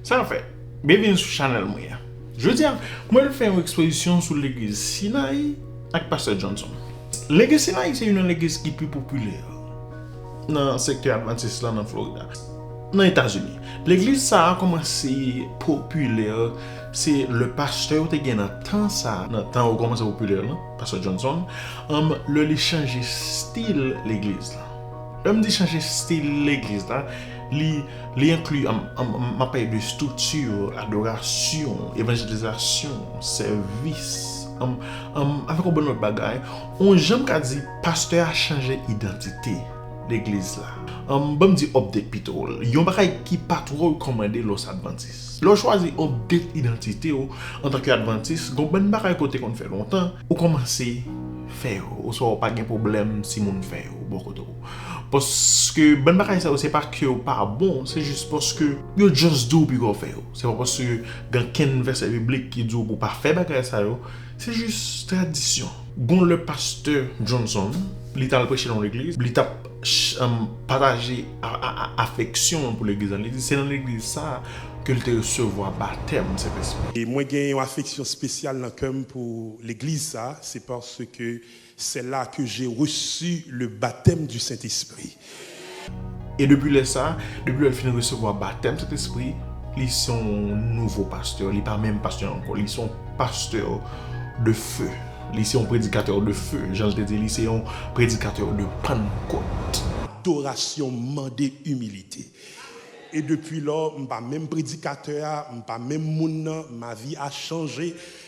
Sa nou fè? Byenvini sou chanèl mwen an. Jodi a, mwen vle fè yon ekspozisyon sou legliz Sinayi ak pastè Johnson. Legliz Sinayi se youn nan legliz ki pi popilè nan sektè advantis la nan Florida, nan Etazini. Legliz sa a kòmanse popilè se lè pastè yo te gen nan tan sa a, nan tan yo kòmanse popilè lan, Pastè Johnson, anm lè li chanje stil legliz la. Lè m di chanje stil legliz la, li li enkli anm anm m ap pale de estrikti, adorasyon, evanjelizasyon, sèvis, anm anm avèk yon bon lòt bagay, on jan m ka di pastè a chanje idantite legliz la. Anm ban m di update pito, yon bagay ki pa twò rekòmande lè w se advantis. Lè w chwazi yon date idantite w antanke advantis, gon bann bagay ke w te konn fè lontan, ou kòmanse fè yo, oswa ou pa gen pwoblèm si moun fè yo bò kote w. Paske bann bagay sa yo se pa ke yo pa bon, se jis paske yo just di w pi ke w fè yo. Se pa paske gen ankenn vèsè biblik ki di w pou w pa fè bagay sa yo, Se jis tradisyon. Gon lè pastè Johnson li tal preche nan yon legliz, li tap pataje afeksyon l pou legliz la, li di se nan legliz sa ke l te resevwa batèm Sentespri. Mwen gen yon afeksyon spesyal nan kè m pou legliz sa, se paske C'est là que j'ai reçu le baptême du Saint-Esprit. E depi lè sa, depi lè l fin resevwa batèm Sentespri, li se yon nouvo pastè, li pa menm pastè ankò, li se yon pastè de feu, li se yon predikatè de feu, jan l te di, li se yon predikatè de Pannkòt. Adorasyon mande imilite. E depi lò, m pa menm predikatè a, m pa menm moun nan, ma vie a changé,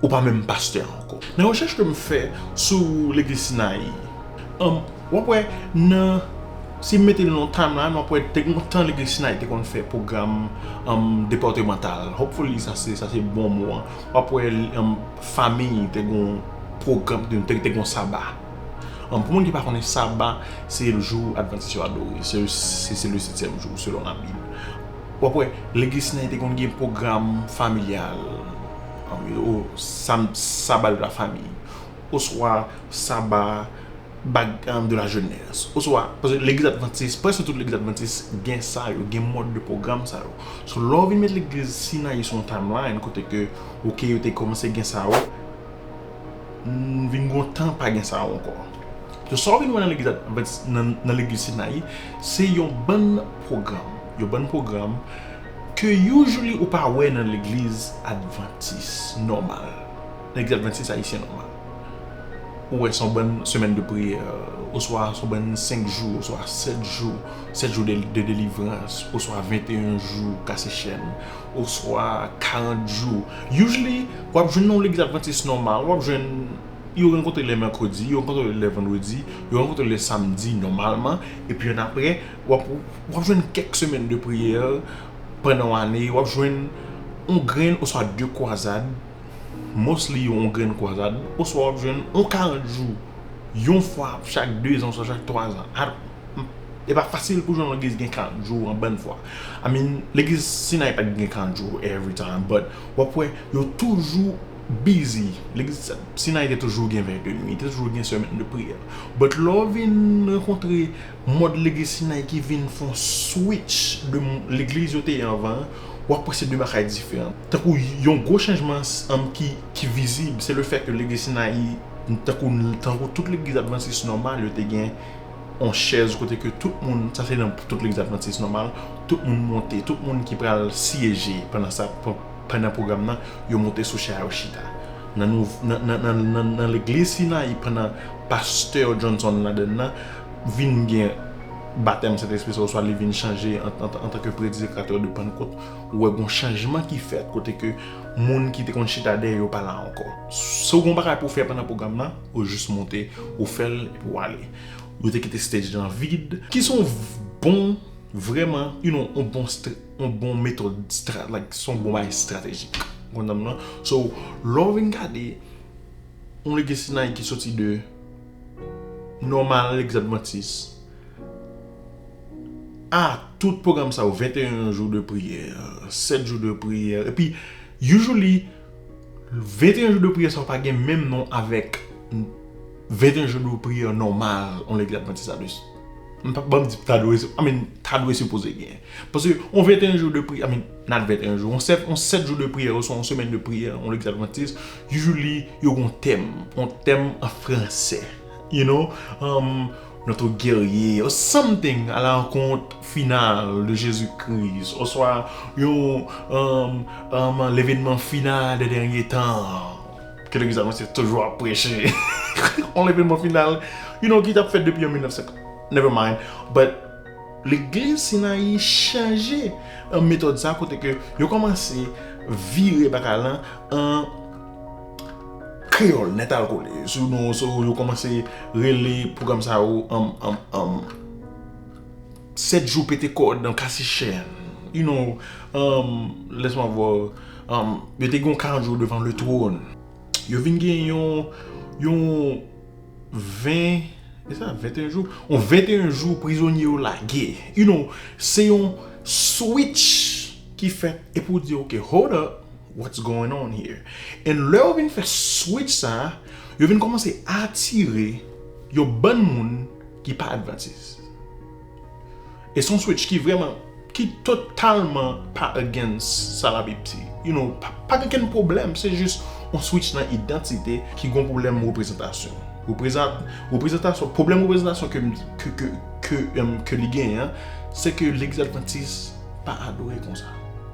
Ou pa menm pastè a ankò. Nan rechèch ke m fè sou legliz Sinayi an, w ap wè nan, si m mete l nan time line w ap wè te gen yon tan legliz Sinayi te konn fè pwogram departemantal, hopefully sa se sa se bon mo an, w ap wè fami te gen yon pwogram, te gen yon saba. Pou moun ki pa konnen saba se jou advantis yo adore, se le setyèm jou selon labib. W ap wè, lè Gisnen te konn gen pwogram familyal, Sabbat de la famille, oswa Sabbat de la jeunesse, oswa, paske legliz advantis, prèske tout legliz advantis gen sa yo, gen mòd de pwogram sa yo. So, lè w vin met legliz Sinayi sou yon timeline kote ke, ok, yo te kòmanse gen sa yo, M vin gontan pa gen sa ankò. So sa w vin wè nan legliz advantis nan legliz Sinayi se yon bann pwogram, yon bann pwogram ke usually ou pa wè nan legliz advantis nòmal, nan legliz advantis ayisyen nòmal. Ou wè se yon bann semèn de priyè, oswa se yon bann senk jou, oswa sèt jou, sèt jou de delivrans, oswa venteyen jou kase chèn. oswa 40 jou usually wap jwenn yon legliz adventiste nòmal wap jwenn yo rankontre lè mèkredi yo rankontre lè vandredi yo rankontre lè samdi nòmalman epi annapre wap jwenn kèk semèn de priyè pandan yon ane wap jwenn yon grenn oswa 2 kwazad mostly yon grenn kwazad oswa wap jwenn yon 40 jou yon fwa chak 2 zan oswa chak 3 zan epa fasil pou jwenn yon legliz ki gen 40 jou an bann fwa. I mean legliz sinay pat gen kandjo every time but wap wè yo toujou busy legliz sinay te toujou gen vè de nwi te toujou gen semèn de priyè but lè w vin rankontre mòd legliz sinay ki vin fon switch de legliz yo te ye anvan an wap wè se de bagay diferan tankou yon gwo chanjman ki vizib se le fè ke legliz sinayi tankou tout legliz advantis nòmal yo te gen yon chèz kote ke tout moun, sa se nan tout legliz advantis nòmal, tout moun monte, tout moun ki pral syeje pandan sa, pandan pwogram nan, yo monte sou chè a yo chita. Nan nou, nan, nan, nan, nan, nan legliz Sinayi pandan pastè Johnson ladann nan, vin gen batèm Sentespri sa oswa li vin chanje an, antanke predikatè de Pannkot, ou wè gen yon chanjman ki fèt kote ke moun ki te konn chita dèyè yo pa la ankò. Si w gen yon bagay pou w fè pandan pwogram nan, Ou jis monte, ou fè l epi w ale. Yo te kite stage lan vid. Ki s on bon, vrèman, you know, on bon, on bon metòd, stra, like, s on bon bagay estratejik. Ou konprann m nan? So, lè w vin gade, on legacy Nike ki soti de Norman Alexandre Mantis a tout pwogram sa yo, 21 jou de priyè, 7 jou de priyè, epi usually, 21 jou de priyè sa yo pa gen menm non avèk 21 jou de priyè nòmal yon legliz advantis la de m pa banm di ta dwe I mean ta dwe sipoze gen paske yon 21 jou de priyè I mean not 21 jou yon 7 yon 7 jou de priyè oswa yon semèn de priyè yon legliz advantis usually yo gen yon tèm yon tèm an fransè you know umm Notre Guerrier or something ala rankont final de Jezi Kris oswa yon levenman final de dènye tan ke legliz advantist toujou ap preche yon levenman final you know ki tap fèt depi an 1900 never mind but legliz Sinayi chanje metòd sa kote ke yo kòmanse vire bagay lan an Kreyòl Nètalkole, sou nou sou yo kòmanse rele pwogram sa yo an an an 7 jou pete kòd an kase chèn you know an lèt mwen vò an yo te gen yon 40 jou devan le twòn yo vin gen yon yon 20 e sa 21 jou yon 21 jou prizonye yo lage you know se yon switch ki fèt e pou di ok hold up What's going on here? And lè yo vin fè switch sa, yo vin kòmanse atire yon bann moun ki pa advantis. E son switch ki vrèman, ki totalman pa against sa la Bib di. You know, pa gen kenn pwoblèm, se jis yon switch nan idantite ki gen yon pwoblèm reprezantasyon. Reprezantasyon, pwoblèm reprezantasyon ke m, ke li genyen an, se ke legliz advantis pa adore konsa.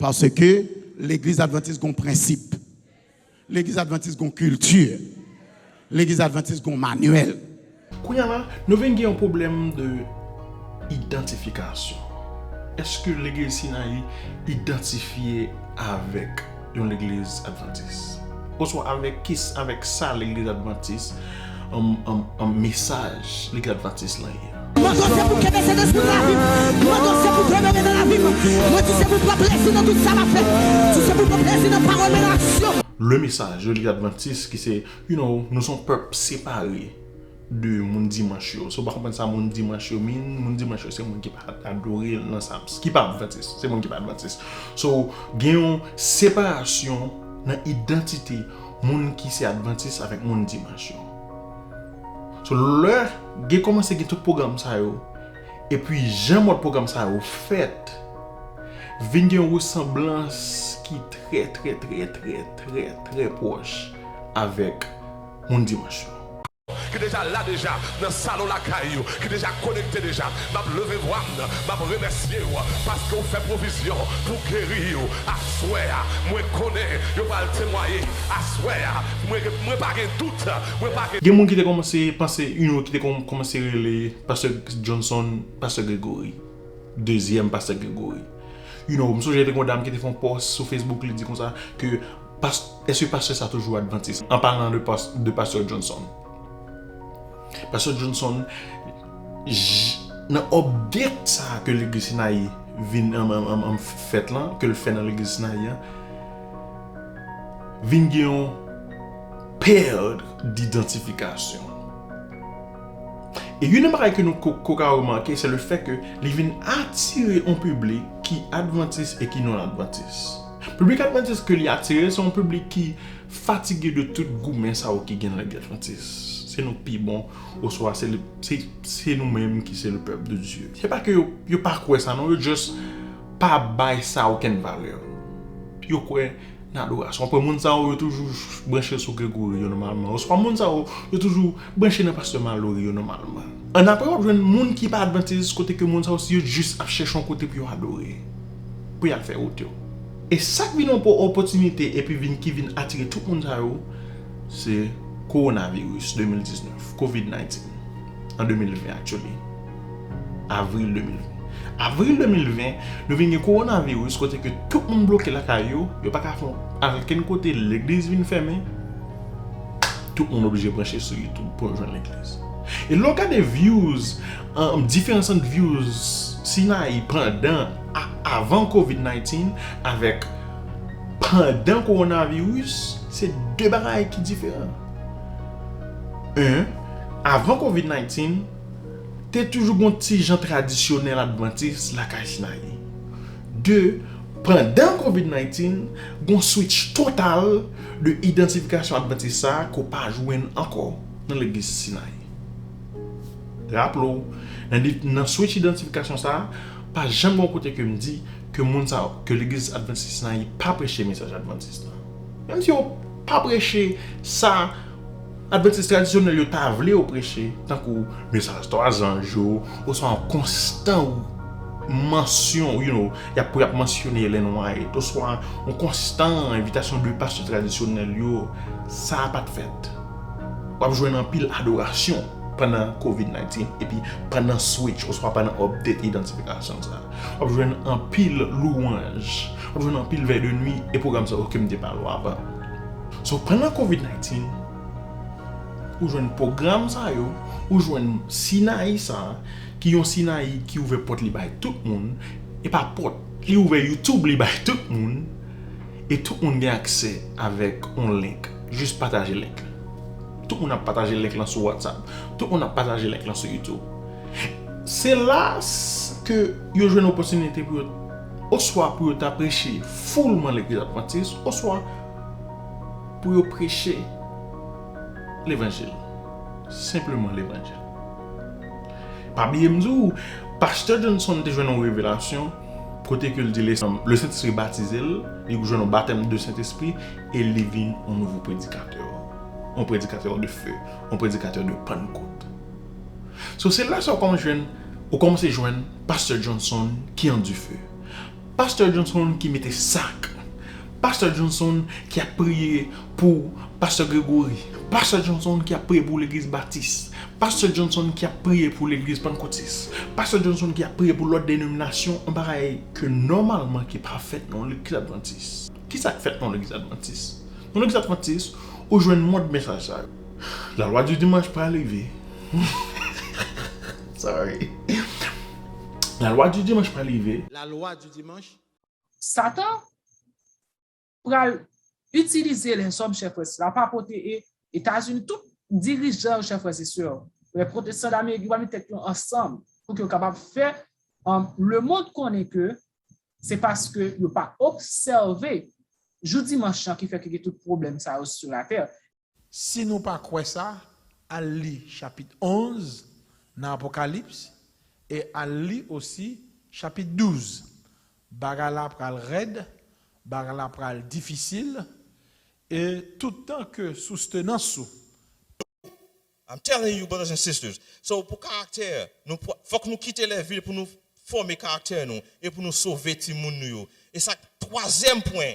Paske legliz advantis gon prensip. Legliz advantis gon kilti. Legliz advantis gon manyèl. Kounya la, nou vin gen yon pwoblèm de idantifikasyon. Eske legliz Sinayi idantifye avèk yon legliz advantis? Oswa avèk kis avèk sa legliz advantis an mesaj legliz advantis lan ye? Le Message, L'église Adventiste ki se, you know, nou son pèp separe de moun Dimanche yo. Si w pa konprann sa moun Dimanche yo mean, moun Dimanche yo se moun ki pa adore nan sa, ki pa Adventist, se moun ki pa Adventist. So, gen yon separasyon nan idantite moun ki se Adventist avèk moun Dimanche yo. So lè gen kòmanse gen tout pwogram sa yo, epi jan mòd pwogram sa yo fèt, vin gen yon resanblans ki trè trè trè trè trè trè pwòch avèk moun Dimanch yo. Ki deja la deja nan salon lakay ou, ki deja konekte deja, m ap leve vwa m, m ap remèsye ou, paske ou fè pwovizyon pou geri yo aswè a. Mwen konnen yo pral temwaye aswè a. Mwen pa gen dout. Gen moun ki te kòmanse panse yon ki te konn kòmanse rele pastè Johnson pastè Gregory dezyèm pastè Gregory you know m sonje te gon dam ki te fè yon pòs sou Facebook li di konsa ke pas èske pastè sa toujou advantis an palan de pas de pastè Johnson pastè Johnson je nan update sa ke legliz sinayi vin an an an fèt lan ke l fè nan legliz sinayi an. vin gen yon pèd didantifikasyon. E youn nan bagay ke nou ko ka remake se le fè ke li vin atire yon piblik ki advantis e ki non advantis. Piblik advantis ke li atire se yon piblik ki fatige de tout goumen sa yo ki gen nan legliz advantis. Se nou k pi bon oswa se nou menm ki se le pèp de Dye. Se pa ke yo pa kwè sa non, yo just. pa bay sa okenn valè. Yo kwè nan adorasyon. Ou konprann? Moun sa yo, yo toujou branche sou Gregory yo nòmalman. Oswa moun sa yo, yo toujou branche nan pastè Malory yo nòmalman. Annapre wap jwenn moun ki pa advantis kote ke moun sa yo yo jis ap chèche yon kote pou yo adore. Pou yal fè wout yo. E sak vin yon opòtinite epi vin ki vin atire tout moun sa yo se Coronavirus 2019, Covid 19. an 2020 actually avril 2020 avril 2020 nou vin gen korona virus kote ke tout moun bloke lakay yo yo paka fon al okenn kote legliz vin fèmen tout moun oblije branche sou youtube pou yo jwenn legliz e lè w gade vyouz diferans ant vyouz sinayi pandan ak avan covid 19 avèk pandan korona virus se 2 bagay ki diferan 1. Avan covid 19, te toujou gon ti jan tradisyonèl advantis lakay Snayi. De, pandan covid 19, gon switch total de idantifikasyon advantis sa ke w pa jwenn ankò nan legliz Snayi. Raple w, nan switch idantifikasyon sa, pa janm gon kote ke m di ke moun sa yo, ke legliz advantis Snayi pa preche mesaj advantis la. Menm si yo pa preche sa, Advantis tradisyonèl yo ta vle yo preche, tankou mesaj twa zanj yo, oswa yon konstan mansyon, you know, y ap pou y ap mansyone Ellen White, oswa yon konstan envitasyon de pastè tradisyonèl yo, sa a pa t fèt. W ap jwenn anpil adorasyon pandan Covid 19, epi pandan switch oswa pandan update idantifikasyon sa a, w ap jwenn anpil louwanj, w ap jwenn anpil vèy de nwi, e pwogram sa yo ke m te pale w avan. So pandan covid 19 ou jwenn pwogram sa yo, ou jwenn sinayi sa ki yon sinayi ki ouvè pòt li bay tout moun, e pa pòt li ouvè youtube li bay tout moun e tout moun gen aksè avèk yon link jis pataje link la tout moun ap pataje link la sou whatsapp tout moun ap pataje link la sou youtube se la ke yo jwenn opòtinite pou yo Oswa pou yo ta preche foulman legliz advantis oswa pou yo preche levanjil. Senpleman levanjil. Pa bliye m di w, pastè Johnson te jwenn yon revelasyon kote ke l di Lesentespri batize l, li jwenn yon batèm de Sentespri e li vin yon nouvo predikatè. Yon predikatè de few. Yon predikatè de Pannkot. So se la sa ou kòmanse jwenn, ou kòmanse jwenn Pastè Johnson ki an dife. Pastè Johnson ki mete sak. Pastè Johnson ki ap priye pou Pastè Gregory. Pastè Johnson ki ap priye pou legliz Batis. Pastè Johnson ki ap priye pou legliz Pannkotis. Pastè Johnson ki ap priye pou lòt denominasyon, yon bagay ke nòmalman ki pa fèt nan yon legliz advantis. Kisa k fèt nan yon legliz advantis? Nan yon legliz advantis, ou jwenn mòd mesaj sa yo. La loi du dimanche pa leve. Sorry. La loi du dimanche pa leve. La loi du dimanche. Satan pral itilize lèzòm chè frè sè la pa pote e etazini tout dirijan yo chè frè e sè yo lè pwotestan damerik yo pa met tèt yo ansanm pou ke yo kapab fè lemond konnen ke se paske yo pa obsève jou dimanch lan ki fè ke gen tout pwoblèm sa yo sou latè Si nou pa kwè sa, al li chapit 11 nan Apokalips e al li osi chapit 12. Bagay la pral rèd, bagay la pral difisil e tout tan ke soustenans ou pa. I'm telling you brothers and sisters, so pou karaktè nou fòk nou kite lè vil pou nou fòme karaktè nou e pou nou sove timoun nou yo e sa twazyèm pwen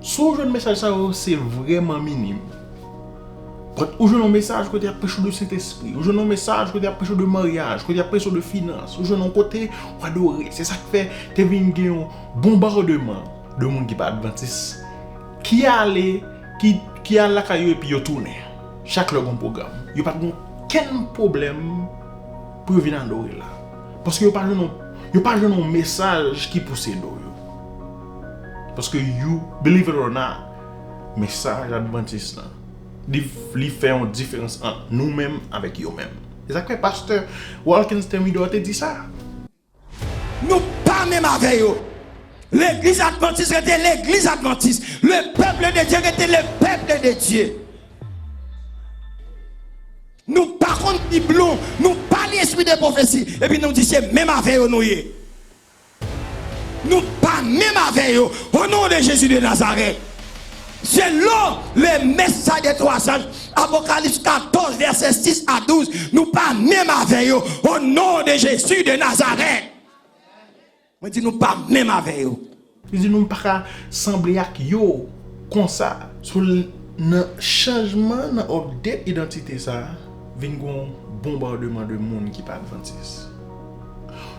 Si w jwenn mesaj sa yo, se vrèman minim. But, ou jwenn yon mesaj kote y ap preche w de Sentespri, ou jwenn yon mesaj kote y ap preche w de maryaj, kote y ap preche w de finans, ou jwenn yon kote w adore. Se sa k fè te vin gen yon bonbardeman de moun ki pa advantis ki ale, ki al lakay yo epi yo tounen. Chak lè gen yon pwogram. Yo pa t gen okenn pwoblèm pou yo vin adore la. Paske yo pa jwenn yon, yo pa jwenn yon mesaj ki pouse do yo. Paske you believe it or not mesaj advantis lan li fè yon diferans ant nou menm avèk yo menm. Se sak fè pastè Walkens Thermidor te di sa. Nou pa menm avè yo. Legliz advantis rete legliz advantis. Le peuple de Dieu rete le peuple de Dieu. Nou pa konn bib nou, nou pa li espri de profesi epi nou di se menm avè yo nou ye. Nou pa menm avè yo o non de Jezi de Nazarèt. Selon le mès sa de twa zanj, Apokalips 14 vèsè 6 a 12, nou pa menm avè yo o non de Jezi de Nazarèt. Mwen di nou pa menm avè yo. Li di nou pa ka sanble ak yo konsa. So nan chanjman nan update identite sa, vin gon bonbardeman de moun ki pa advantis.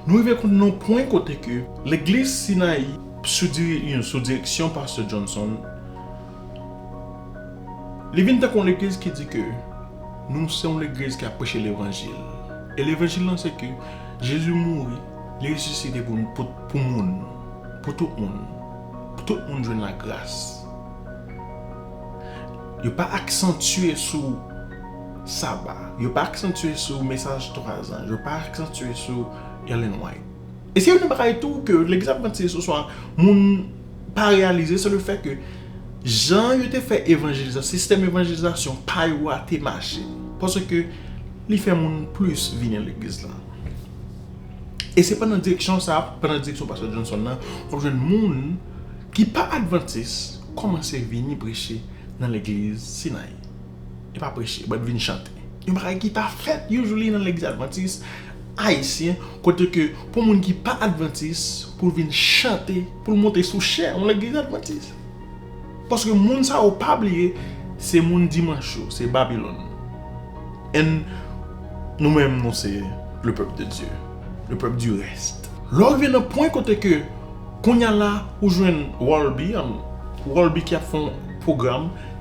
Nou rive konn nan yon pwen kote ke legliz Sinayi sou direksyon Pastè Johnson, li vin tankou yon legliz ki di ke nou se yon legliz ki ap preche levanjil. E levanjil lan se ke Jezi mouri, li resisite pou nou, pou moun, pou tout moun. Pou tout moun jwenn lagras. Yo pa aksantye sou. Saba. Yo pa aksantye sou mesaj twazan. Yo pa aksantye sou Ellen White. E se youn nan bagay tou ke Legliz Advantist oswa moun pa reyalize, se le fè ke jan yo te fè evanjelizasyon, sistèm evanjelizasyon pa yo a te mache. Paske li fè moun plis vin nan Legliz la. E se pandan direksyon sa, pandan direksyon Pastè Johnson nan, w ap jwenn moun ki pa Advantist kòmanse vini preche nan Legliz Sinayi. Yo pa preche but vin chante. Yon bagay ki pa fèt usually nan legliz advantis ayisyen kote ke pou moun ki pa advantis pou l vin chante pou l monte sou chè yon legliz advantis. Paske moun sa yo pa bliye se moun dimanch yo, se babilòn. And nou menm nou se le pèp de Dye, le pèp di rèst. Lè w rive nan pwen kote ke kounya la ou jwenn Rolby, Rolby ki ap fè yon pwogram.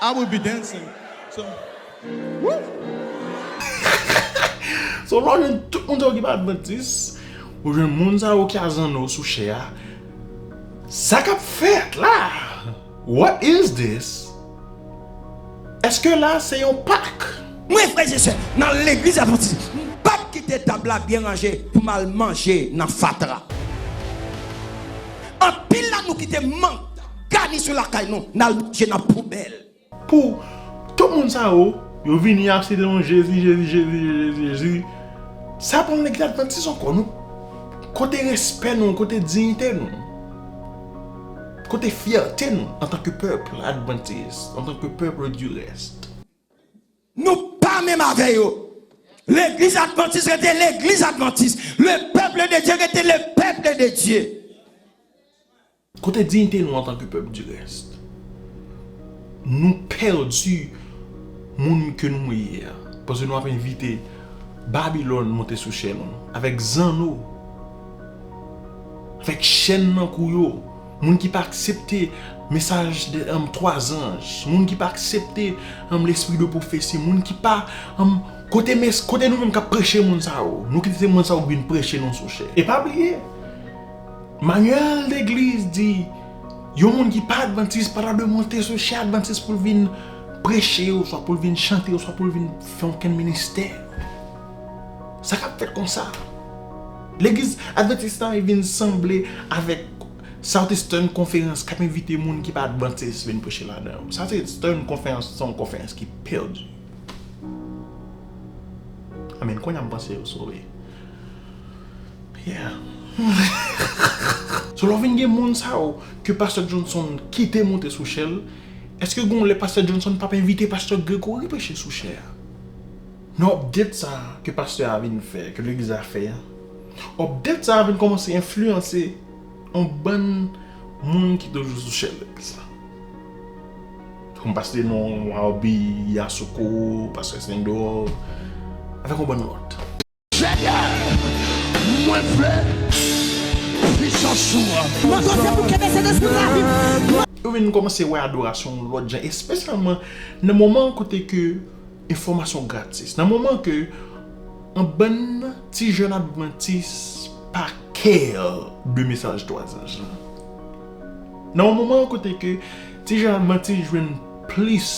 I will be dancing so wouhh. So lè w jwenn tout moun sa yo ki pa advantis, ou jwenn moun sa yo ki a zanno sou chè a, sa kap fèt la? What is this? Eske la se yon pak? Mwen frè e sè nan legliz advantis m pap kite tab la byen ranje pou m al manje nan fatra. Anpil nan nou kite mank tab. Gani sou lakay nou nal manje nan poubèl. Pou Tout moun sa yo yo vini ap site non jezi jezi jezi jezi jezi sa pa yon legliz advantis ankò non kote respè nou kote diyite nou kote fyète nou antanke pèp advantis antanke pèp di rèst. Nou pa menm avè yo. Legliz advantis rete legliz advantis. Le peuple de Dieu rete le peuple de Dieu. Kote dignité nou antan ke pèp du reste? Nou perdu moun ke nou ye a paske nou ap envite Babylone monte sou chè nou avèk zanno, avèk chèn nan kou yo, moun ki pa aksepte mesaj 3 anj, moun ki pa aksepte l'esprit de prophétie, moun ki pa kote mes kote nou menm kap preche moun sa yo, nou kite se moun sa yo ki vin preche nou sou chè. E pa bliye! Manyèl legliz di yon moun ki pa advantis pa ta dwe monte sou chè advantis pou l vin preche oswa pou l vin chante oswa pou l vin fè okenn ministè. Sa k ap fèt kon sa? Legliz advantis la vin sanble avèk Southeastern Conference k ap envite moun ki pa advantis vin preche ladan yo. Southeastern Conference se yon konferans ki pèdi. Amen! Kounye a m panse yo sove. Yeah. So lè w vin gen moun sa yo ke pastè Johnson kite monte sou chè l, èske gon lè pastè Johnson pap envite pastè Gregory preche sou chè a? Nan update sa a ke pastè a vin fè, ke legliz la fè a, update sa a vin kòmanse enfliyanse On bann Moun ki toujou sou chèn legliz la. Kom paste non Wawbi, Yasoko, pastè Sendor, avèk on bann lòt. Senyè, mwen vle pisans ou an. Mwen koze pou kenbe Sentespri nan lavi m. Yo vin kòmanse wè adorasyon yon lòt jan, espesyalman nan moman kote ke. Enfòmasyon gratis nan moman ke yon bann ti jèn advantis pa kè de mesaj twa zanj lan. Nan yon moman kote ke ti jèn advantis jwenn plis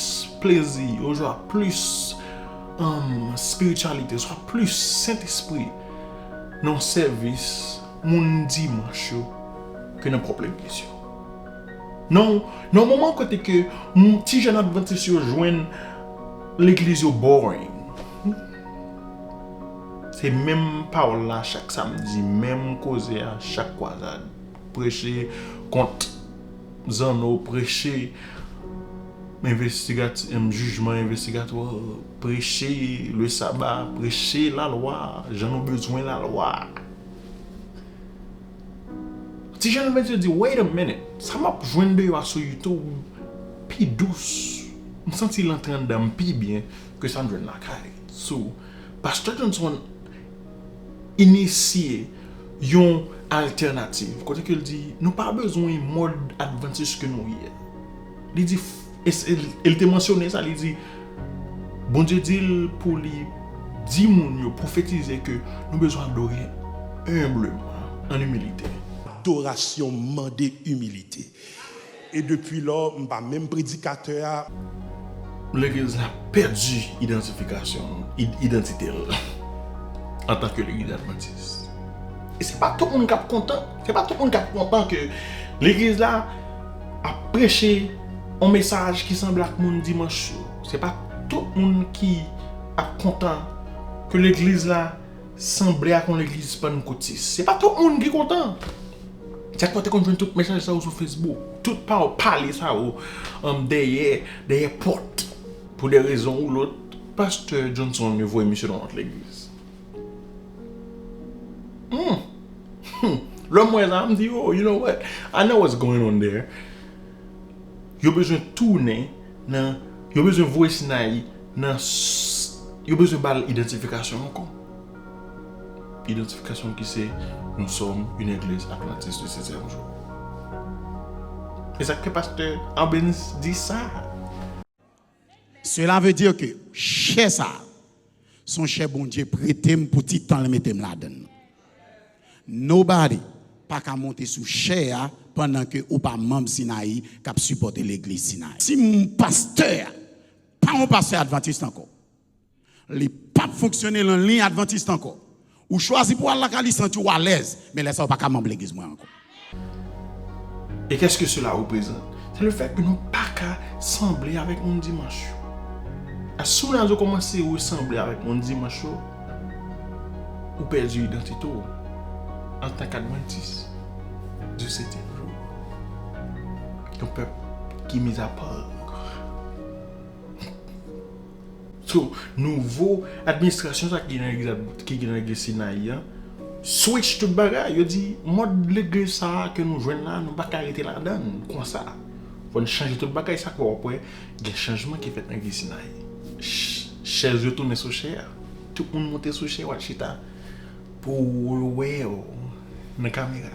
plezi oswa plis spirityalite oswa plis sentespri nan sèvis moun dimanch yo ke nan pwòp legliz yo. Nan yon moman kote ke ti jèn advantis yo jwenn legliz yo boring. Se menm pawòl la chak samdi, menm koze a chak kwazad. Preche kont zanno, preche jijman envestigatwa, preche le saba, preche lalwa, jan nou bezwen lalwa. Ti jèn mwen te di wait a minute sa map jwenn deyò a sou youtube pi dous m santi l antre anndan m pi byen ke sa m jwenn lakay so Pastè Johnson inisye yon altènativ kote ke l di nou pa bezwen mòd advantis ke nou ye li di E li te mansyone sa, li di, Bondye di l pou li di moun yo, pwofetize ke nou bezwen adore enbleman, an imilite. Adorasyon mande imilite. E depi lò, m pa menm predikatè a. Legliz la pèdi idantifikasyon l, idantite l, antanke Legliz Advantis. E se pa tout moun k ap kontan, se pa tout moun k ap kontan ke Legliz la. Ap preche yon mesaj ki sanble ak moun dimanch yo. Se pa tout moun ki ap kontan ke legliz la sanble ak yon legliz pannkotis. Se pa tout moun ki kontan. Se konsa w te konn jwenn tout mesaj sa yo sou Facebook. Tout pawòl pale sa yo dèyè, dèyè pòt. Pou de rezon ou lòt, pastè Johnson yo voye misye nan yon lòt legliz. Hum! Lè m wè sa, m di, oh, you know what? I know what's going on there. Yo bezwen tounen nan, yo bezwen voye Sinayi nan, yo bezwen ba l idantifikasyon l ankò. Idantifikasyon l ki se, Nou sòm yn egliz advantis di setyèm jou. Esak fè pastè Arbenz di sa? Cela veut dire que chè sa a son chè Bondye prete m pou ti tan l mete m ladann nan. Nobody pa ka monte sou chè a pandan ke ou pa manb Sinayi kap sipòte legliz Sinayi. Si pastè a pa yon pastè advantist ankò, Li pap fonksyone lan liy advantist ankò. Ou chwazi pou al la ka li santi ou alèz, men lè sa ou pa ka manb legliz mwen ankò. E keske sela reprezant? Se le fèt ke nou pa ka sanble avèk moun dimanch yo. As soon as ou komanse resanble avèk moun dimanch yo, ou pèdi idantite ou antan k advantis. Dieu c'est un peuple. Yon pèp ki mis à part. So, nouvo administrasyon sa ki gen nan legliz Sinayi an switch tout bagay, yo di mòd legliz sa ke nou jwenn la nou pa ka rete ladann konsa fò n chanje tout bagay sa k fè w ap wè gen chanjman ki fèt nan legliz Sinayi chèz yo tounen sou chè a tout moun monte sou chè yo al chita pou yo wè yo nan kamera.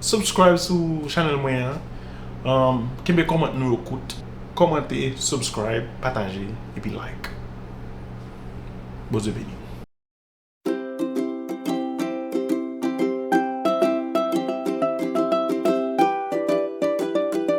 Subscribe sou chanel mwen an Kenbe kòmant nou yo kout Kòmante, subscribe, pataje epi like Bondye beni nou